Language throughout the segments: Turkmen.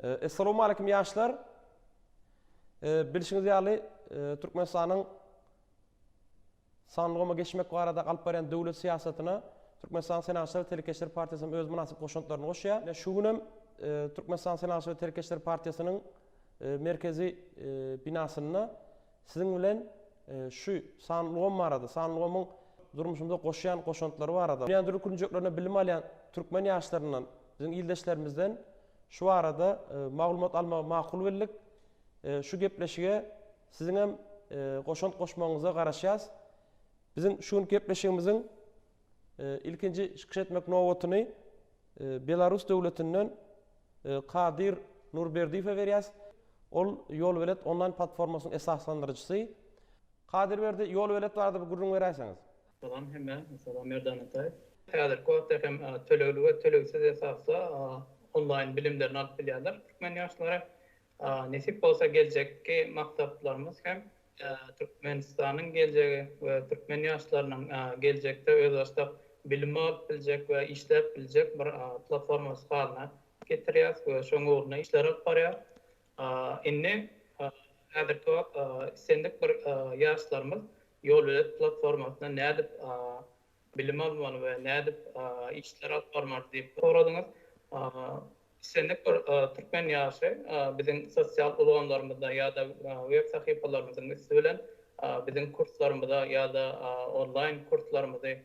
Essalowmaleýkim ýaşlar! Bilşiňiz ýaly, Türkmenistanyň sanly goma geçmek barada alyp barýan döwlet syýasatyna Türkmenistanyň Senagatçylar we telekeçiler partiýasy hem öz mynasyp goşantlaryny goşýar. Ine, şu gün hem Türkmenistanyň Senagatçylar we telekeçiler partiýasynyň merkezi binasynda siziň bilen şu sanly gom barada, sanly gomyň durmuşymyza goşýan goşantlary barada, dünýäniň dürli künjeklerinde bilim alýan türkmen ýaşlaryndan, biziň ildeşlerimizden Şu barada maglumat almagy makul bildik. Şu gepleşige siziň hem goşant goşmagyňyza garaşýas. Biziň şu günki gepleşigimiziň ilkinji çykyş etmek nobatyny Belarus döwletinden Kadir Nurberdiýewe berýäs. Ol Ýolbelet onlaýn platformasynyň esaslandyryjysy. Kadir Berdi, Ýolbelet barada bir gürrüň beräýseňiz. Salam hemmä. Salam Merdan Ataýew. Häzirki wagtda hem tölegli we tölegsiz esasda onlaýn bilimlerini alyp bilýärler türkmen ýaşlary. Nesip bolsa geljekki maksatlarymyz hem Türkmenistanyň geljegi we türkmen ýaşlarynyň geljekde özbaşdak bilim alyp biljek we işläp biljek bir platformasy halyna getirýäs we şoň ugrunda işler alyp barýarys. Indi häzirki wagt islendik bir ýaşlarymyz ýolölet platformasynda nädip bilim almaly we nädip işler alyp barmaly diýip soradyňyz. Islendik bir türkmen ýaşy biziň sosial ulgamlarymyzda ýa-da web sahypalarymyzyň üsti bilen biziň kurslarymyza ýa-da onlaýn kurslarymyzy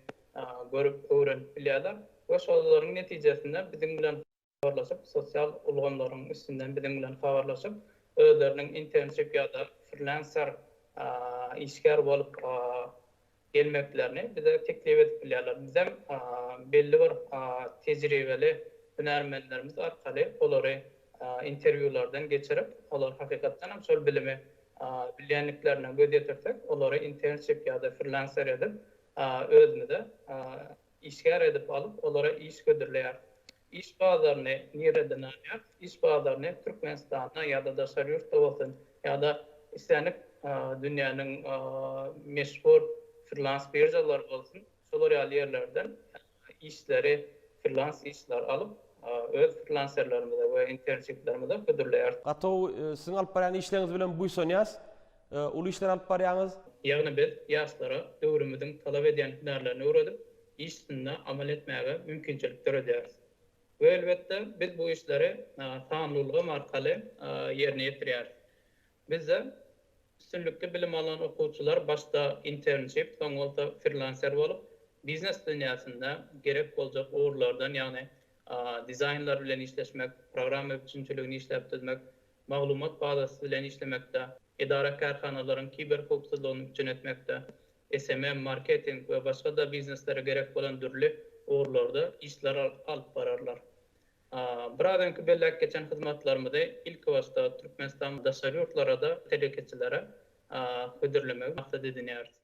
görüp öwrenip bilýärler we şolaryň netijesinde biziň bilen habarlaşyp, sosial ulgamlaryň üstünden biziň bilen habarlaşyp, özleriniň internship ýa-da freelancer işgär bolup gelmeklerini bize teklip edip bilýärler. Bizem belli bir tejribeli hünärmenlerimiz arkaly olary interwýulardan geçirip, olar hakykatdan hem şol bilimi bilýändiklerine göz ýetirsek, olary internship ýa-da freelancer edip özümize Işgär edip alyp, olara iş hödürleýär. Iş bazaryny nirde dynanýar? Iş bazaryny Türkmenistanda ýa-da daşary ýurtda bolsun, ýa-da islendik dünýäniň meşhur frilans biržalary bolsun, şolar ýaly ýerlerden işleri, frilans işleri alyp, öz frilanserlerimize we internşiplerimize hödürleýäris. Gaty gowy. Siziň alyp barýan işleriňiz bilen buýsanýas. Uly işler alyp barýaňyz. Ýagny biz ýaşlara döwrümiziň talap edýän hünärlerini öwredip, iş üstünde amal etmäge mümkinçilik döredýäris. We elbetde, biz bu işleri sanly ulgam arkaly ýerine ýetirýäris. Bizde üstünlikli bilim alan okuwçylar başda internship, soň bolsa frillanser bolup, biznes dünýäsinde gerek boljak ugurlardan, ýagny dizaýnlar bilen işleşmek, programma üpjünçiligini işläp düzmek, maglumat bazasy bilen işlemekde, edara-kärhanalaryň kiberhowpsuzlygyny üpjün etmekde, SMM, marketing we başga-da bizneslere gerek bolan dürli ugurlarda işler alyp bararlar. Biraz öňki belläp geçen hyzmatlarymyzy ilkibaşda Türkmenistan daşary ýurtlara-da telekeçilere hödürlemegi maksat edinýäris.